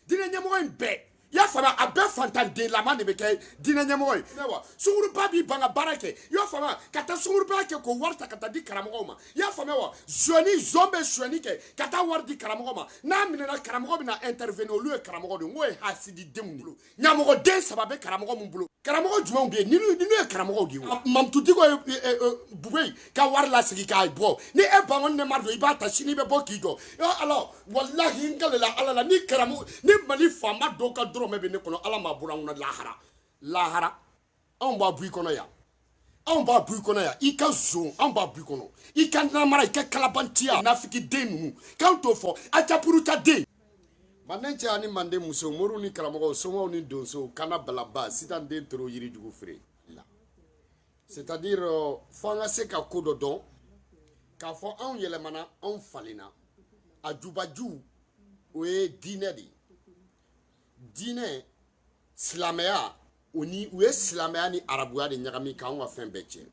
diinɛ ɲɛmɔgɔ in bɛɛ y'a faamuya a bɛɛ fantandenlama de bɛ kɛ diinɛ ɲɛmɔgɔ ye wa sunguruba b'i ban ka baara kɛ y'a faamuya ka taa sunguru baara kɛ k'o wari ta ka taa di karamɔgɔw ma y'a faamuya wa zonyɛni zon bɛ zonyɛni kɛ ka taa wari di karamɔgɔ ma n'a minɛna karamɔgɔ bɛna intervenir olu ye karamɔgɔ de ye n k'o ye hasidi denw bolo ɲamɔgɔ den saba bɛ karamɔgɔ min bolo karamɔgɔ jumɛn bɛ yen ninnu ye karamɔgɔw de ye wa mamudu diko ye e, e, e, bubeyi ka wari lasegin k'a bɔ ni e bangoni ne ma don i b'a ta sini i bɛ bɔ k'i jɔ ala walahi n kalela ala la ni karamɔgɔ ni mali faama dɔ ka dɔrɔmɛ bɛ ne kɔnɔ ala m'a bɔra n kɔnɔ lahara lahara anw b'a bɔ i kɔnɔ yan anw b'a bɔ i kɔnɔ yan i ka zon anw b'a bɔ i kɔnɔ i ka namara i ka kalabantiya nafiki den ninnu k'anw t'o fɔ ajapuru ta den manden cɛ ani manden muso moriw ni karamɔgɔw somaw ni donsow kana balaba sitan den toro yirijugu feere la c'est à dire euh, fo an ka se ka ko dɔ dɔn k'a fɔ anw yɛlɛmana anw falenna a jubaju o ye diinɛ de ye diinɛ silamɛya o ni u ye silamɛya ni arabuya de ɲagami k'anw ka fɛn bɛɛ tiɲɛ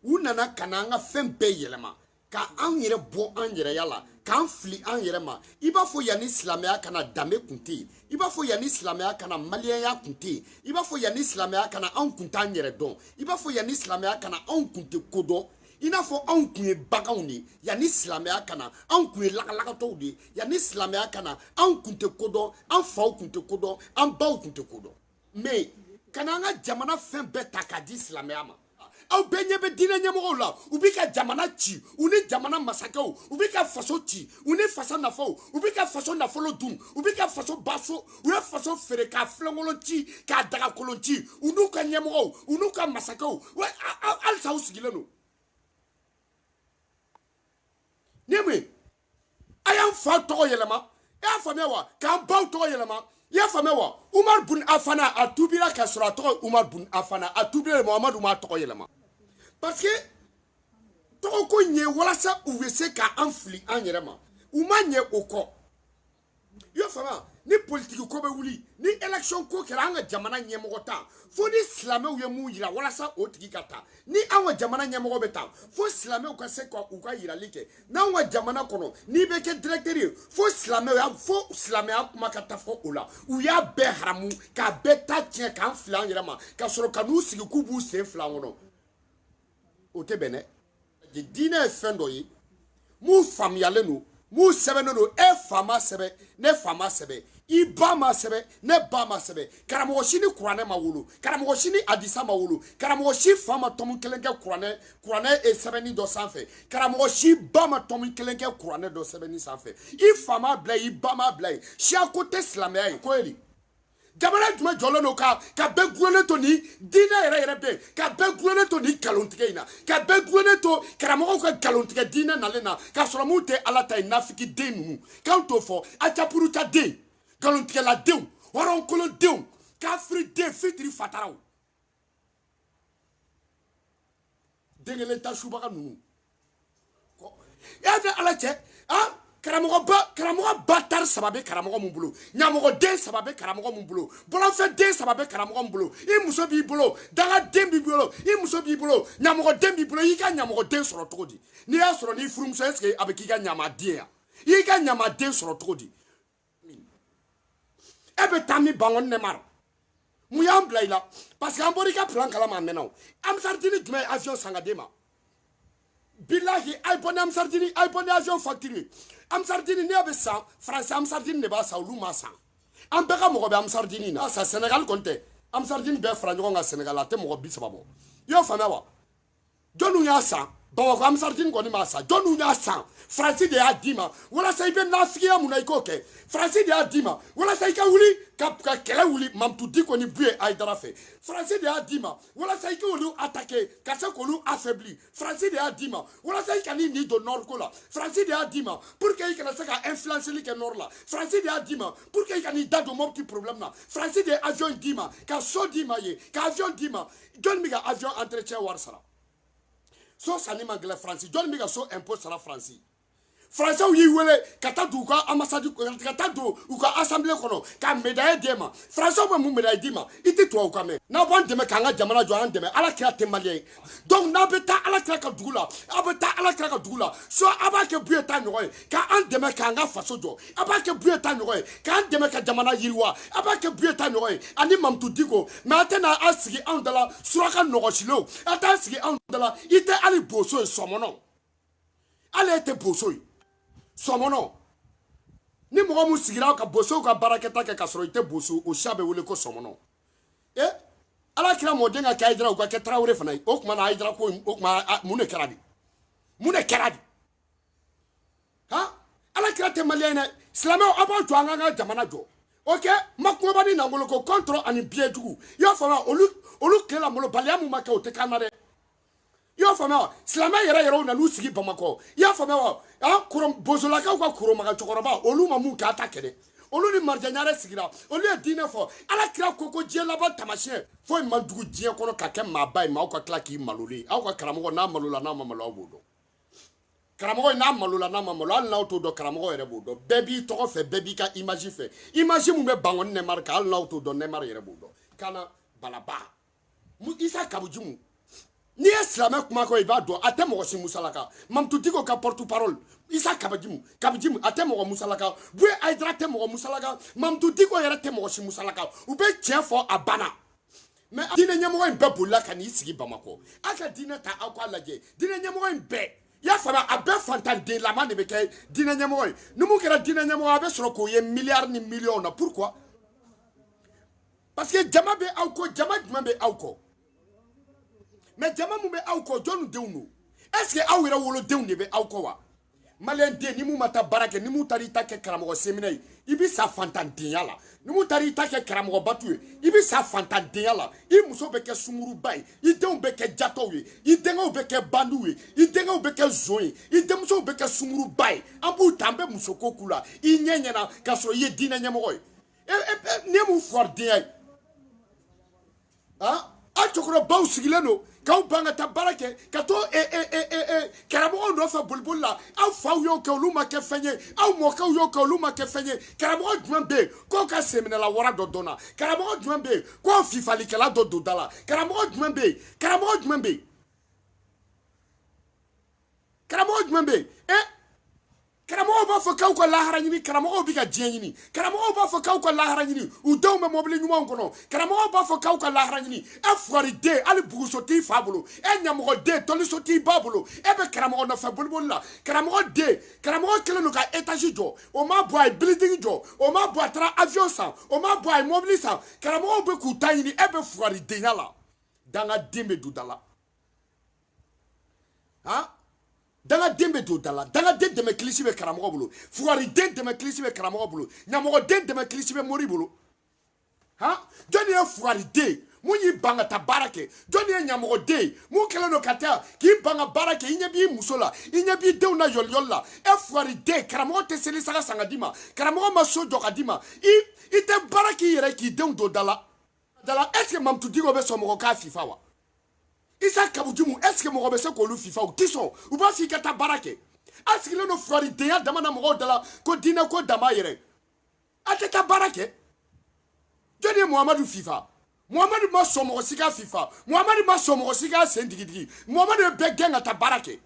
u nana ka na an ka fɛn bɛɛ yɛlɛma ka anw yɛrɛ bɔ an yɛrɛya la k'an fili an yɛrɛ ma i b'a fɔ yanni silamɛya ka na danbe kun tɛ yen i b'a fɔ yanni silamɛya ka na maliyɛnya kun tɛ yen i b'a fɔ yanni silamɛya ka na anw kun t'an yɛrɛ dɔn i b'a fɔ yanni silamɛya ka na anw kun tɛ ko dɔn i n'a fɔ anw kun ye baganw de ye yanni silamɛya ka na anw kun ye lagalagatɔw de ye yanni silamɛya ka na anw kun tɛ ko dɔn an faw kun tɛ ko dɔn an baw kun tɛ ko dɔn mais ka na an ka jamana fɛn bɛɛ ta k'a di silamɛya ma aw bɛɛ ɲɛ bɛ diinɛ ɲɛmɔgɔw la u bɛ ka jamana ci u ni jamana masakɛw u bɛ ka faso ci u ni fasa nafaw u bɛ ka faso nafolo dun u bɛ ka faso baso u ye faso feere k'a filenkolon ci k'a dagakolon ci u n'u ka ɲɛmɔgɔw u n'u ka masakɛw halisa u sigilen don ni mun ye a y'an fa tɔgɔ yɛlɛma i y'a faamuya wa k'an baw tɔgɔ yɛlɛma i y'a faamuya wa umaru bun afana a tuubira k'a sɔrɔ a tɔgɔ umaru bun afana a tuubira muhamadu m'a tɔgɔ yɛlɛma parce que tɔgɔ ko ɲɛ walasa u bɛ se ka an fili an yɛrɛ ma u ma ɲɛ o kɔ i y'a faamuya ni politiki ko bɛ wuli ni election ko kɛra an ka jamana ɲɛmɔgɔ ta fo ni silamɛw ye min yira walasa o tigi ka ta ni an ka jamana ɲɛmɔgɔ bɛ ta fo silamɛw ka se ka u ka yirali kɛ n'anw ka jamana kɔnɔ n'i bɛ kɛ directeur ye fo silamɛya fo silamɛya kuma ka taa fɔ o la u y'a bɛɛ haramu k'a bɛɛ ta tiɲɛ k'an fili an yɛrɛ ma ka sɔrɔ ka n'u sigi k'u b'u sen fila kɔnɔ o tɛ bɛn dɛ diinɛ ye fɛn dɔ ye mun faamuyalen don mun sɛbɛnnen don e fa ma sɛbɛn ne fa ma sɛbɛn i ba ma sɛbɛn ne ba ma sɛbɛn karamɔgɔ si ni kuranɛ ma wolo karamɔgɔ si ni adisa ma wolo karamɔgɔ si fa ma tɔmu kelen kɛ kuranɛ sɛbɛnni dɔ sanfɛ karamɔgɔ si ba ma tɔmu kelen kɛ kuranɛ dɔ sɛbɛnni sanfɛ i fa ma bila i ba ma bila ye siyako tɛ silamɛya ye ko ye nin jamana jumɛn jɔlen don ka ka bɛɛ gulonnen to ni diinɛ yɛrɛ yɛrɛ bɛ ka bɛɛ gulonnen to ni nkalontigɛ in na ka bɛɛ gulonnen to karamɔgɔw ka nkalontigɛ diinɛ nalen na k'a sɔrɔ mun tɛ ala ta ye nafiki den ninnu k'anw t'o fɔ acapuruta den nkalontigɛladenw hɔrɔnkolondenw kafiri den fitiri fataraw den kelen ta subaga ninnu y'a fɛ ala cɛ karamɔgɔ batari saba bɛ karamɔgɔ min bolo ɲamɔgɔ den saba bɛ karamɔgɔ min bolo bɔlɔnfɛn den saba bɛ karamɔgɔ min bolo i muso b'i bolo dangaden b'i bolo i muso b'i bolo ɲamɔgɔ den b'i bolo i ka ɲamɔgɔ den sɔrɔ cogo di n'i y'a sɔrɔ n'i furumuso est-ce que a bɛ k'i ka ɲama denya i ka ɲama den sɔrɔ cogo di e bɛ taa min bango ne mara mun y'an bila i la parce que an bɔra i ka plan kalama a mɛnna o ansardini jumɛn ye avion san ka d'e ma bilahi a ye bɔ ni ansardini a ye bɔ ni avion facture ye ansardini ne bɛ san faransi ansardini de b'a san olu ma san an bɛɛ ka mɔgɔ bɛ ansardini na sa senegal kɔni tɛ ansardini bɛɛ fara ɲɔgɔn kan senegal a tɛ mɔgɔ bi saba bɔ i y'o faamuya wa jɔnniw y'a san bamakɔ ansardini kɔni m'a san jɔnniw y'a san faransi de y'a d'i ma walasa i bɛ nafigiya mun na i k'o kɛ faransi de y'a d'i ma walasa i ka wuli ka ka kɛlɛ wuli mamutu diko ni buye ayidara fɛ faransi de y'a d'i ma walasa i k'olu attaquer ka se k'olu affaiblir faransi de y'a d'i ma walasa i kan'i ni don nord ko la faransi de y'a d'i ma pour que i kana se ka influenceli kɛ nord la faransi de y'a d'i ma pour que i kan'i da don mɔputi problème na faransi de ye avion d'i ma ka so d'i ma ye ka avion d'i ma jɔnni bɛ ka avion entretien wari sara so sanni man gɛlɛn faransi jɔnni bɛ ka so impôt sara faransi faransiw y'i wele ka taa don u ka ambassade ka taa don u ka assemblée kɔnɔ ka médaille d'e ma faransiw bɛ mun médaille d'i ma i tɛ tubabu kan mɛn n'aw b'an dɛmɛ k'an ka jamana jɔ an dɛmɛ ala kira tɛ maliyɛn ye donc n'aw bɛ taa ala kira ka dugu la aw bɛ taa ala kira ka dugu la so aw b'a kɛ buye ta ɲɔgɔn ye ka an dɛmɛ k'an ka faso jɔ a b'a kɛ buye ta ɲɔgɔn ye k'an dɛmɛ ka jamana yiriwa a b'a kɛ buye ta ɲɔgɔn ye ani mamutu diko mais a tɛna a sigi anw dala suraka nɔgɔsilenw a t'a sigi anw dala i tɛ hali boso ye sɔmɔnɔ hali e tɛ boso ye sɔmɔnɔ ni mɔgɔ mun sigira ka bosow ka baarakɛta kɛ k'a sɔrɔ i tɛ boso o siya bɛ wele ko sɔmɔnɔ e ala kira mɔden ka kɛ ayidara u ka kɛ tarawele fana ye o tuma na ayidara ko o tuma mun de kɛra de mun de kɛra de ha ala kira tɛ maliyɛn dɛ silamɛw aw b'a to an k'an ka jamana jɔ ok ma kumaba ni nangolo ko kɔntɔrɔ ani biɲɛ jugu i y'a faamuya olu olu tile la malobaliya mun ma kɛ o tɛ k'an na dɛ i y'a faamuya wa silamɛ yɛrɛ yɛrɛw nan'u sigi bamakɔ i y'a faamuya wa an koro bozolakaw ka koromaga cɛkɔrɔba olu ma mun k'a ta kɛnɛ olu ni marijɛ ɲare sigira olu ye diinɛ fɔ ala kira ko ko diɲɛ laban tamasiyɛn foyi man jugu diɲɛ kɔnɔ ka kɛ maaba ye maaw ka tila k'i maloli aw ka karamɔgɔ n'a malola n'a ma malo aw b'o dɔn karamɔgɔ in n'a malola n'a ma malo hali n'aw t'o dɔn karamɔgɔ yɛrɛ b'o dɔn bɛɛ b'i tɔgɔ fɛ bɛɛ b'i ka image fɛ image min bɛ bangɔni nɛmari kan hali n'aw t'o dɔn nɛmari yɛrɛ b'o dɔn kana balaba isa kawu jimu n'i ye silamɛ kuma kɔ i b'a dɔn a tɛ mɔgɔ si musalaka mahamudu diko ka porte parole isa kawu jimu kawu jimu a tɛ mɔgɔ musalaka buye hayidara tɛ mɔgɔ musalaka mahamudu diko yɛrɛ tɛ mɔgɔ si musalaka u bɛ tiɲɛ fɔ a banna mais diinɛ ɲɛmɔgɔ in bɛɛ bolila ka n'i sigi bamakɔ aw ka diinɛ ta aw k'a lajɛ diinɛ ɲɛmɔgɔ in bɛɛ y'a faamuya a bɛɛ fantanden lama de bɛ kɛ diinɛ ɲɛmɔgɔ ye ni mun kɛra diinɛ ɲɛmɔgɔ a bɛ sɔrɔ k'o ye miliyari ni miliyɔn na pourquoi parce que jama bɛ aw kɔ jama jumɛn bɛ aw kɔ mais jama min bɛ aw kɔ jɔnni denw don est ce que aw yɛrɛ wolodenw de bɛ aw kɔ wa maliyɛn den ni mun ma taa baara kɛ ni mun taara i ta kɛ karamɔgɔ senminɛ ye i bɛ sa fantandenya la ni mun taara i ta kɛ karamɔgɔ batu ye i bɛ sa fantandenya la i muso bɛ kɛ sunguruba ye i denw bɛ kɛ jatɔw ye i denkɛw bɛ kɛ bandiw ye i denkɛw bɛ kɛ zon ye i denmusow bɛ kɛ sunguruba ye an b'u ta an bɛ musoko k'u la i ɲɛ ɲɛna k'a sɔrɔ i ye diinɛ ɲɛmɔgɔ ye e e, e nin ye mun fugaridenya ye aw cɛkɔrɔbaw sigilen don k'aw ban ka taa baara kɛ ka to eh, eh, eh, karamɔgɔw nɔfɛ boliboli la aw faw y'o kɛ olu ma kɛ fɛn ye aw mɔkɛw y'o kɛ olu ma kɛ fɛn ye karamɔgɔ jumɛn bɛ yen k'o ka senminɛla wara dɔ dɔnna karamɔgɔ jumɛn bɛ yen k'o fifalikɛla dɔ don da la karamɔgɔ jumɛn bɛ yen karamɔgɔ jumɛn bɛ yen karamɔgɔ jumɛn bɛ yen e karamɔgɔw b'a fɔ k'aw ka lahara ɲini karamɔgɔw bɛ ka diɲɛ ɲini karamɔgɔw b'a fɔ k'aw ka lahara ɲini u denw bɛ mɔbili ɲumanw kɔnɔ karamɔgɔw b'a fɔ k'aw ka lahara ɲini e fugariden hali buguso t'i fa bolo e ɲamɔgɔden tɔliso t'i ba bolo e bɛ karamɔgɔ nɔfɛ boliboli la karamɔgɔ den karamɔgɔ kɛlen don ka etazi jɔ o ma bɔ a ye building jɔ o ma bɔ a taara avion san o ma bɔ a ye mɔbili san karamɔgɔw bɛ k'u ta ɲini e bɛ fugaridenya la dangaden bɛ don da la han dangaden bɛ don da la dangaden dɛmɛ kilisi bɛ karamɔgɔ bolo fugariden dɛmɛ kilisi bɛ karamɔgɔ bolo ɲamɔgɔden dɛmɛ kilisi bɛ mori bolo han jɔnni ye fugariden mun y'i ban ka taa baara kɛ jɔnni ye ɲamɔgɔden ye mun kɛlen don ka taa k'i ban ka baara kɛ i ɲɛ b'i muso la i ɲɛ b'i denw na yɔliyɔli la e fugariden karamɔgɔ tɛ seli saga san ka d'i ma karamɔgɔ ma so jɔ ka d'i ma i i tɛ baara k'i yɛrɛ k'i denw don da la da la est ce que mamutu diko bɛ sɔn mɔgɔ k'a fifa wa isa kawu jimu est ce que mɔgɔ bɛ se k'olu fifa u ti sɔn u b'a fɔ i ka taa baara kɛ a sigilen don fugaridenya dama na mɔgɔw da la ko diinɛko dama yɛrɛ a tɛ taa baara kɛ jɔni ye muhamadu fifa muhamadu ma sɔn mɔgɔ si k'a fifa muhamadu ma sɔn mɔgɔ si k'a sen digidigi muhamadu ye bɛɛ gɛn ka taa baara kɛ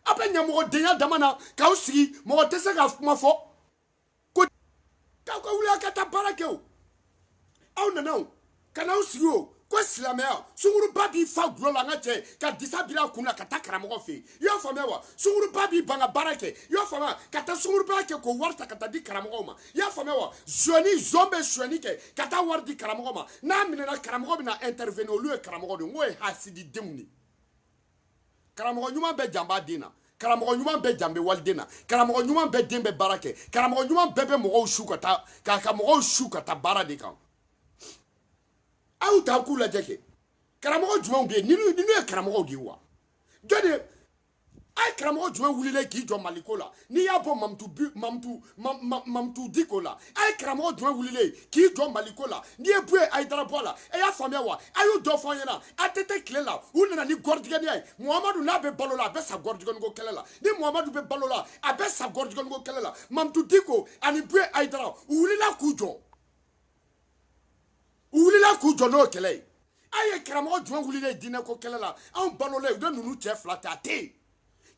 a bɛ ɲamɔgɔdenya dama na k'aw sigi mɔgɔ tɛ se ka kuma fɔ ko k'aw ka wuli aw ka taa baara kɛ o aw nana o ka n'aw sigi o ko silamɛya sunguruba b'i fa gulɔ la an ka cɛ ka disa biri a kun na ka taa karamɔgɔ fɛ yen i y'a faamuya wa sunguruba b'i ban ka baara kɛ i y'a faamuya ka taa sungurubaya kɛ k'o wari ta ka taa di karamɔgɔ ma i y'a faamuya wa zɔni zon bɛ sonyɛni kɛ ka taa wari di karamɔgɔ ma n'a minɛna karamɔgɔ bɛ na intervenir olu ye karamɔgɔ de ye n k'o ye hasididenw de ye karamɔgɔ ɲuman bɛɛ jan b'a den na karamɔgɔ ɲuman bɛɛ jan bɛ waliden na karamɔgɔ ɲuman bɛɛ den bɛ baara kɛ karamɔgɔ ɲuman bɛɛ bɛ mɔgɔw su ka taa ka ka mɔgɔw su ka taa baara de kan aw y'u ta k'u lajɛ kɛ karamɔgɔ jumɛn bɛ yen ninnu ninnu ye karamɔgɔw de ye wa jɔn de a ye karamɔgɔ jumɛn wulilen k'i jɔ maliko la n'i y'a bɔ mamutu diko la a ye karamɔgɔ jumɛn wulilen k'i jɔ maliko la n'i ye buye ayidara bɔ a la e y'a faamuya wa a y'u dɔ fɔ an ɲɛna ATT tile la u nana ni gɔrijigɛniya ye muhamadu n'a bɛ balo la a bɛ sa gɔrijigɛniko kɛlɛ la ni muhamadu bɛ balo la a bɛ sa gɔrijigɛniko kɛlɛ la mamutu diko ani buye ayidara u wulila k'u jɔ u wulila k'u jɔ n'o kɛlɛ ye a ye karamɔgɔ jumɛn wulilen diinɛko kɛlɛ la anw balolen u bɛ ninnu cɛ fila ta a tɛ yen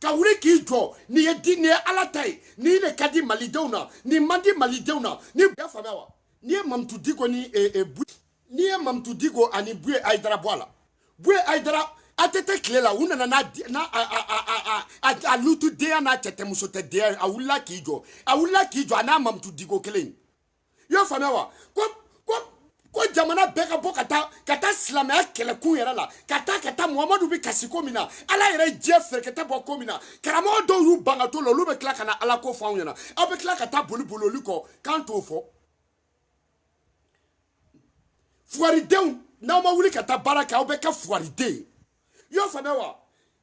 ka wuli k'i jɔ nin ye di nin ye ala ta ye nin de ka di malidenw na nin man di malidenw na n'i y'a faamuya wa n'i ye mamutu diko ni eh, eh, bu n'i ye mamutu diko ani buye ayidara bɔ a la buye ayidara ATT tile la u nana n'a n'a a a a a a lutudenya n'a cɛtɛmusotɛdenya a wulila k'i jɔ a wulila k'i jɔ a ni mamutu diko kelen i y'a faamuya wa ko ko ko jamana bɛɛ ka bɔ ka taa ka taa silamɛya kɛlɛkun yɛrɛ la ka taa ka taa muhamadu bɛ kasi ko min na ala yɛrɛ ye diɲɛ fɛrɛkɛtɛ bɔ ko min na karamɔgɔ dɔw y'u ban ka to la olu bɛ tila ka na ala ko fɔ anw ɲɛna aw bɛ tila ka taa boli boli olu kɔ k'an t'o fɔ fugaridenw n'aw ma wuli ka taa baara kɛ aw bɛ kɛ fugariden ye i y'o faamuya wa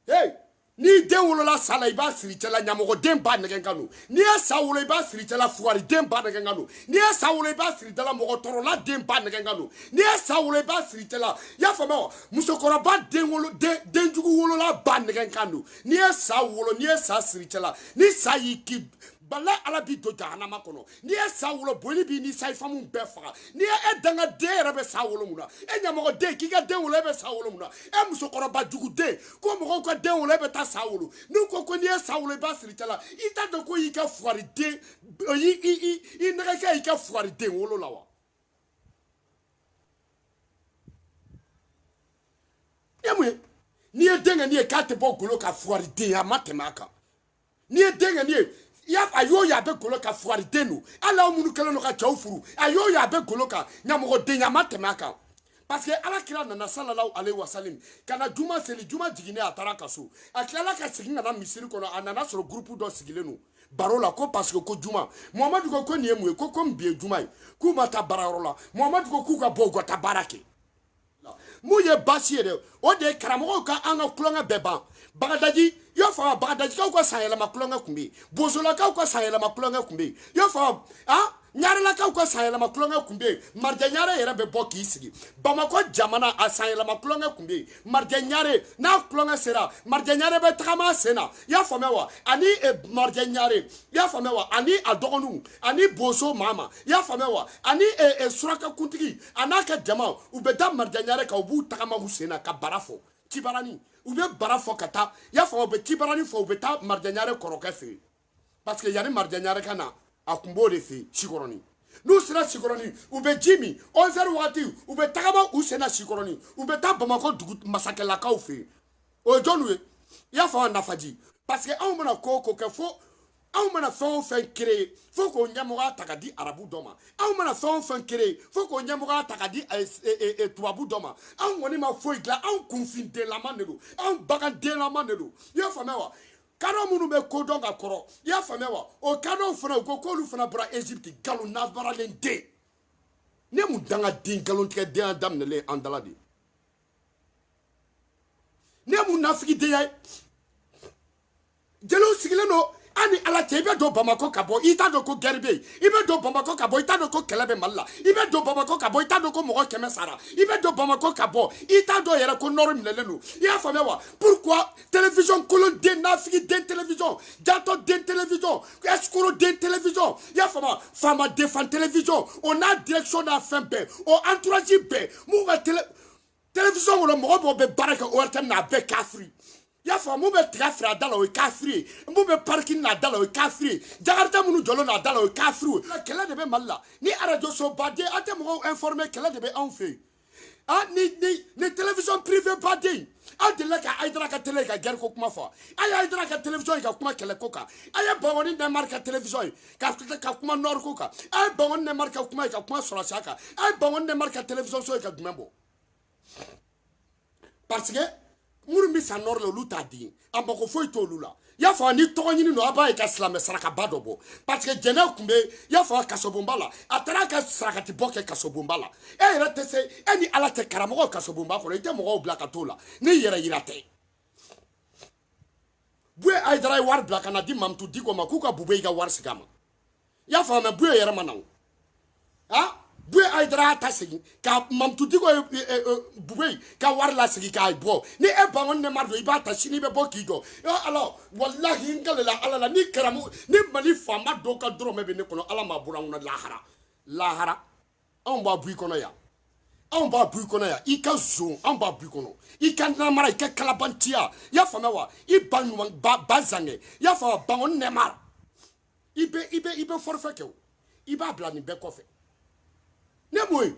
hey n'i den wolola sa la i b'a siri cɛ la ɲamɔgɔden ba nɛgɛn kan don n'i ye sa wolo i b'a siri cɛ la fugariden ba nɛgɛn kan don n'i ye sa wolo i b'a siri cɛ la mɔgɔ tɔɔrɔla den ba nɛgɛn kan don n'i ye sa wolo i b'a siri cɛ la i y'a faamuya wa musokɔrɔba den wolo den den jugu wolola ba nɛgɛn kan don n'i ye sa wolo n'i ye sa siri cɛ la ni sa y'i ki bala ala b'i don jahanama kɔnɔ n'i ye sa wolo boli b'i ni sayifamu bɛɛ faga n'i ye e danga den yɛrɛ bɛ sa wolo mun na e ɲamɔgɔ den k'i ka den wolo e bɛ sa wolo mun na e musokɔrɔba jugu den ko mɔgɔw ka den wolo e bɛ taa sa wolo n'u ko ko n'i ye sa wolo i b'a siri cɛla i t'a dɔn ko y'i ka fugari den i i i i nɛgɛkɛ y'i ka fugari den wolo la wa e mun ye n'i ye den kɛ n'i ye k'a tɛ bɔ golo ka fugari den a ma tɛmɛ a kan n'i ye den kɛ n'i ye ya a y'o ye a bɛ golo kan fugari den don hali aw minnu kɛlen don ka cɛw furu a y'o ye a bɛ golo kan ɲamɔgɔ den a ma tɛmɛ a kan parce que ala kira nana sallallahu alayhi wa salam ka na juma seli juma jiginnen a taara ka so a tilala ka segin ka na misiri kɔnɔ a nana sɔrɔ groupe dɔ sigilen don baro la ko parce que ko juma muhamadu ko ko nin ye mun ye ko komi bi ye juma ye k'u ma taa baarayɔrɔ la muhamadu ko k'u ka bɔ u ka taa baara kɛ mun ye baasi ye dɛ o de ye karamɔgɔw ka an ka tulonkɛ bɛɛ ban bagadaji i y'a faamu bagadajikaw ka sanyɛlɛma tulonkɛ tun bɛ yen bosolakaw ka sanyɛlɛma tulonkɛ tun bɛ yen i y'a faamu ɲarelakaw ka sanyɛlɛma tulonkɛ tun bɛ yen marijɛ ɲare yɛrɛ bɛ bɔ k'i sigi bamakɔ jamana a sanyɛlɛma tulonkɛ tun bɛ yen marijɛ ɲare n'a tulonkɛ sera marijɛ ɲare bɛ tagama a sen na i y'a faamuya wa ani eh, marijɛ ɲare i y'a faamuya wa ani a dɔgɔninw ani boso mama i y'a faamuya wa ani eh, eh, surakakuntigi a n'a ka jama u bɛ da marijɛ ɲare kan u b'u tagama u sen na ka bara fɔ cibarani u bɛ bara fɔ ka taa i y'a faamu u bɛ cibarani fɔ u bɛ taa marijɛ ɲare kɔrɔkɛ fɛ yen parce que yanni marijɛ ɲare ka na a tun b'o de fɛ yen sikɔrɔni n'u sera sikɔrɔni u bɛ ji min 11 heures wagati u bɛ tagama u sen na sikɔrɔni u bɛ taa bamakɔ dugu masakɛlakaw fɛ yen o ye jɔniw ye i y'a faamu nafaji parce que anw mana ko o ko kɛ fo anw mana fɛn o fɛn créer fo k'o ɲɛmɔgɔya ta ka di arabu dɔ ma anw mana fɛn o fɛn créer fo k'o ɲɛmɔgɔya ta ka di eh, eh, eh, tubabu dɔ ma anw kɔni ma foyi dilan anw kunfindenlama de don anw bagandenlama de don i y'a faamuya wa kadɔ minnu bɛ ko dɔn ka kɔrɔ i y'a faamuya wa o kadɔw fana u ko k'olu fana bɔra égypte nkalon nabaralen den ne mun danga den nkalontigɛ denya daminɛlen an dala de ne mun nafigi denya ye jeliw sigilen don an ni ala cɛ i bɛ don bamakɔ ka bɔ i t'a dɔn ko guerre bɛ yen i bɛ don bamakɔ ka bɔ i t'a dɔn ko kɛlɛ bɛ mali la i bɛ don bamakɔ ka bɔ i t'a dɔn ko mɔgɔ kɛmɛ sara i bɛ don bamakɔ ka bɔ i t'a dɔn yɛrɛ ko nord minɛlen don i y'a faamuya wa pourquoi télévision kolon den nafigi den télévision jatɔ den télévision escroc den télévision i y'a faamuya faama defan télévision o n'a direction n'a fɛn bɛɛ o entourage bɛɛ mun ka télé télévision kɔnɔ mɔgɔ o mɔgɔ bɛ baara kɛ ORTM na a bɛɛ kafiri i y'a faamu mun bɛ tiga feere a da la o ye kafiri ye mun bɛ parking n'a da la o ye kafiri ye jakarita minnu jɔlen n'a da la o ye kafiri ye kɛlɛ de bɛ mali la ni arajoso baden an tɛ mɔgɔw informer kɛlɛ de bɛ anw fɛ yen ah ni ni ni télévision privée baden aw delila ka ayidara ka télé ka guerre ko kuma fɔ a ye ayidara ka télévision ye ka kuma kɛlɛ ko kan a ye bangɔni nɛmari ka télévision ye ka ka kuma nord ko kan a ye bangɔni nɛmari ka kuma ye ka kuma sɔrɔsiya kan a ye bangɔni nɛmari ka télévision so ye ka jumɛn bɔ parce que minnu bɛ sa nord la olu t'a di a mako foyi t'olu la i y'a fɔ ni tɔgɔ ɲini don a b'a ye ka silamɛ sarakaba dɔ bɔ parce que jɛnɛ tun bɛ i y'a fɔ kasobonba la a taara ka sarakati bɔ kɛ kasobonba la e yɛrɛ tɛ se e ni ala cɛ karamɔgɔ kasobonba kɔnɔ i tɛ mɔgɔw bila ka t'o la ni i yɛrɛ yira tɛ bue ayidara ye wari bila ka na di mamutu diko ma k'u ka bubeyi ka wari segin a ma i y'a faamuya bue yɛrɛ ma na o a bue ayidara y'a ta segin ka mamutu diko ye e, e, e, bubeyi ka wari lasegin k'a bɔ ni e bangɔni nɛmari don i b'a ta sini i bɛ bɔ k'i jɔ alors walahi n kalela ala la ni karamu ni mali faama dɔw ka dɔrɔmɛ bɛ ne kɔnɔ ala m'a bɔra n kɔnɔ lahara lahara anw b'a bɔ i kɔnɔ yan anw b'a bɔ i kɔnɔ yan i ka zon anw b'a bɔ i kɔnɔ i ka namara i ka kalabantiya i y'a faamuya wa i ba ɲuman ba ba zangɛ i y'a faamuya bangɔni nɛmari i bɛ i bɛ i bɛ forfait kɛ o i b'a bila nin bɛɛ kɔfɛ ne m'o ye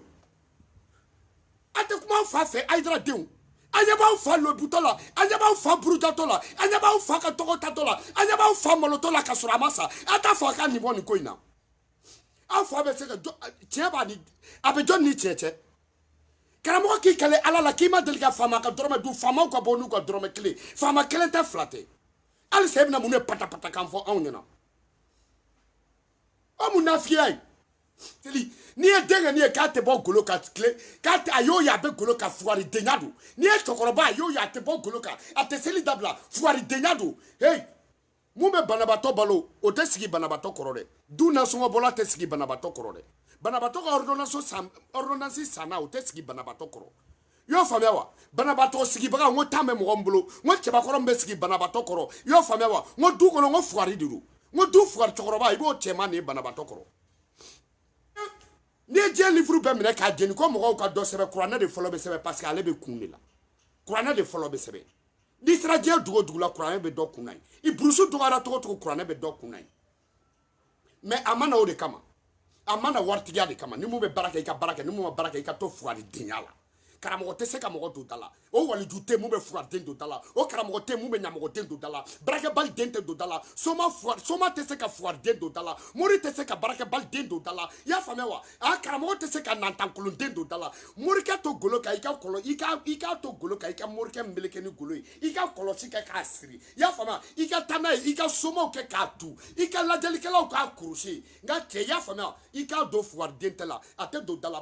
a tɛ kuma aw fa fɛ ayidara denw a ɲɛ b'aw fa lebutɔ la a ɲɛ b'aw fa burujatɔ la a ɲɛ b'aw fa ka tɔgɔ tatɔ la a ɲɛ b'a fa malotɔ la ka sɔrɔ a ma sa a t'a fɔ a k'a nin bɔ nin ko in na aw fa bɛ se ka tiɲɛ b'a ni a bɛ jɔn ni cɛ cɛ karamɔgɔ k'i kale ala la k'i ma deli ka faama ka dɔrɔmɛ dun faamaw ka bɔ n'u ka dɔrɔmɛ kelen faama kelen tɛ fila tɛ hali sa i bɛna mun de patapata kan fɔ anw ɲɛna o munafigiya ye teli n'i ye denkɛnin ye k'a tɛ bɔ golo kan tile k'a tɛ a y'o ye a bɛ golo kan fugari denya don n'i ye cɛkɔrɔba a y'o ye a tɛ bɔ golo kan a tɛ seli dabila fugari denya don heyi mun bɛ banabatɔ balo o tɛ sigi banabatɔ kɔrɔ dɛ du nasɔngɔbɔla tɛ sigi banabatɔ kɔrɔ dɛ banabatɔ ka ordonnance san ordonnance sanna o tɛ sigi banabatɔ kɔrɔ i y'o faamuya wa banabatɔ sigibaga n ko tan bɛ mɔgɔ min bolo n ko cɛbakɔrɔ min bɛ sigi banabatɔ kɔrɔ i y'o faamuya wa n ko du kɔnɔ n ko fugari de don n ko du fugari cɛkɔrɔba i b'o cɛman de ye banabatɔ kɔrɔ n'i ye diɲɛ livuru bɛɛ minɛ k'a jeni ko mɔgɔw ka dɔ sɛbɛn kuranɛ de fɔlɔ bɛ sɛbɛn parce que ale bɛ kun de la kuranɛ de fɔlɔ bɛ sɛbɛn n'i sera diɲɛ dugu o dugu la kuranɛ bɛ dɔ kun na yen i burusu dɔgɔyara cogo cogo kuranɛ bɛ dɔ kun na yen mais a ma na o de kama a ma na waritigiya de kama ni mun bɛ baara kɛ i ka baara kɛ ni mun ma baara kɛ i ka to fugari denya la karamɔgɔ tɛ se ka mɔgɔ don da la o waliju tɛ mun bɛ fugariden don da la o karamɔgɔ tɛ mun bɛ ɲamɔgɔden don da la baarakɛbali den tɛ don da la soma fura soma tɛ se ka fugariden don da la mori tɛ se ka baarakɛbali den don da la i y'a faamuya wa a karamɔgɔ tɛ se ka nantankolonden don da la morikɛ to golo kan i ka kɔlɔ i ka i ka to golo kan i ka morikɛ meleke ni golo ye i ka kɔlɔsi kɛ k'a siri i y'a faamuya i ka taa n'a ye i ka somaw kɛ k'a tu i ka lajɛlikɛlaw k'a kurusi nka cɛ i y'a faamuya i k'a don fuwariden tɛ la a tɛ don da la